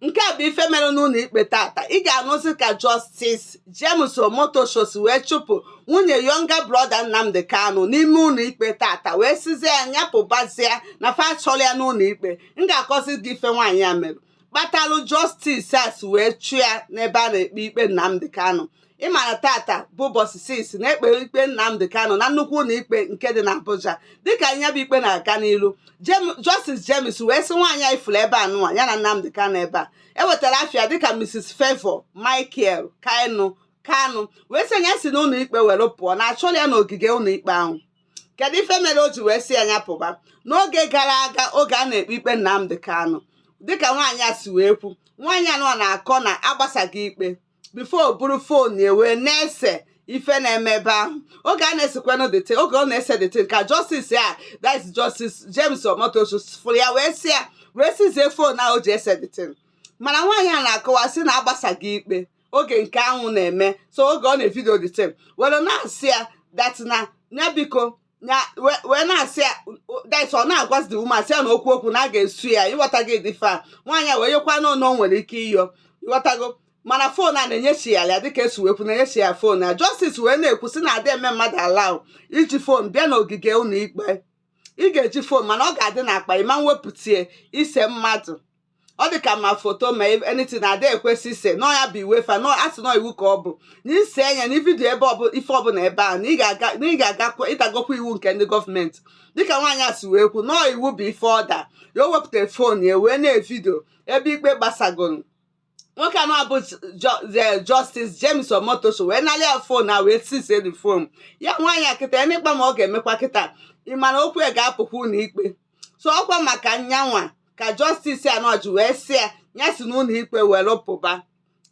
nke a bụ ife mere n'ụlọ ikpe tata ị ga-anụzi ka Justice James Omotosho si wee chụpụ nwunye younger brother Nnamdi Kanu n'ime ụlọ ikpe tata wee sịzie ya nya pụbazie na fa achọrọ ya n'ụlọ ikpe m ga-akọzi gị ife nwaanyị a mere kpatalụ Justice a si wee chụ ya n'ebe a na-ekpe ikpe Nnamdi Kanu ị ma na tata bụ ụbọchị six a na-ekpe ikpe Nnamdi Kanu na nnukwu ụlọ ikpe nke dị n'Abuja dịka ya bụ ikpe na-aga n'ilu Justice James wee sị nwaanyị a ị fụrụ ebe a nụwa ya na Nnamdi Kanu ebe a e wetara afa ya dịka Mrs Favour Michael Kanu Kanu wee sị ya si n'ụlọ ikpe were pụọ na achọrọ ya n'ogige ụlọ ikpe ahụ kedu ife mere o ji wee sị ya ya pụba n'oge gara aga oge a na-ekpe ikpe Nnamdi Kanu dịka nwaanyị a si wee kwu nwaanyị anụwa na-akọ na agbasago ikpe before o buru fon ya wee na-ese ife na-eme ebe ahụ oge a na-esekwanụ the thing oge ọ na-ese the thing ka Justice a that's Justice James Omotosho fụrụ ya wee sị ya wee seize fon ahụ o ji ese the thing mana nwaanyị a na-akọwa sị na agbasago ikpe oge nke anwụ na-eme so oge ọ na-evidio the thing were na-asị ya that na ya biko na wee wee na-asị ya that's ọ na-agwazi the woman sị ya na okwu okwu na a ga-esu ya ị ghọtago ụdị ife a nwaanyị a wee yekwa n'ọnụ o nwere ike ịyọ ị ghọtago mana fon a na-enyechi ya ya dịka esi wee kwu na-enyechi ya fon ya Justice wee na-ekwu sị na adị eme mmadụ allow iji fon bịa n'ogige ụlọ ikpe ị ga-eji fon mana ọ ga-adị n'akpa ị ma-ewepụta ya ise mmadụ ọ dị ka ma foto ma anything na ada ekwesị ise na ọ ya bụ iwe fa na-asị na ọ iwu ka ọ bụ na ise nya na ividio ebe ọbụ ife ọbụla ebe a na ị ga-aga na ị ga-agakwa ị dagokwa iwu nke ndị gọọmenti dịka nwaanyị a si wee kwu na ọ iwu bụ ife ọ da ya o wepụtara fon ya wee na-evidio ebe ikpe gbasagoro nwoke anụwa bụ Justice James Omotosho wee nalị ya fon na wee seize the fon ya nwaanyị a kịta ya n'ịkpa ma ọ ga-emekwa kịta ị ma na okwu ya ga-apụkwa ụlọ ikpe so ọkwa maka nya nwa ka Justice anụwa ji wee sị ya ya si n'ụlọ ikpe were pụba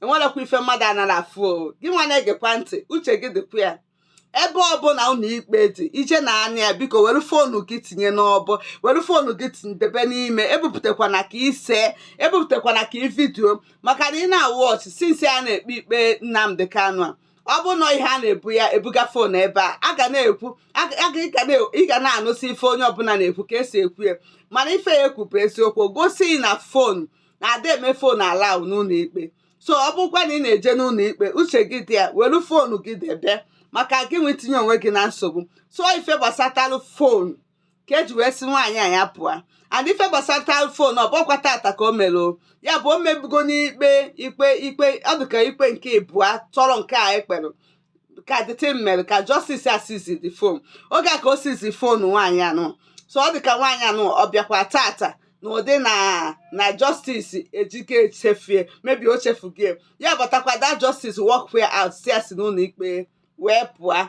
enwerekwa ife mmadụ anara afụ o gị nwa na-egekwa ntị uche gị dịkwa ya ebe ọbụla ụlọ ikpe dị ije na anya ya biko were foonu gị tinye n'ọbọ were foonu gị debe n'ime ebupụtakwana ka i see ebupụtakwana ka i vidio maka na ị na-awatch since a na-ekpe ikpe Nnamdi Kanu a ọ bụ na ọ ihe a na-ebu ya ebuga fon ebe a a ga na-ekwu ị ga na-anụsị ife onye ọbụla na-ekwu ka esi ekwu ya mana ife ya ekwu bụ eziokwu gosi na fon na ada eme fon allow n'ụlọ ikpe so ọ bụkwa na ị na-eje n'ụlọ ikpe uche gị dị ya were fonu gị debe maka gị wee tinye onwe gị na nsogbu so ife gbasatalụ fon ka eji wee sị nwaanyị a ya pụọ and ife gbasatalụ phone ọ bụkwa tata ka o mere ya bụ o mebugo n'ikpe ikpe ikpe ọ dị ka ikpe nke ịbụa tọrọ nke a e kpere ka the thing mere ka Justice a seize the phone oge a ka o seize phone nwaanyị anụ so ọ dị ka nwaanyị anụ ọ bịakwa tata na ụdị na na Justice ejike chefie maybe o chefugie ya batakwa the Justice walk ya out si ya si n'ụlọ ikpe wee pụọ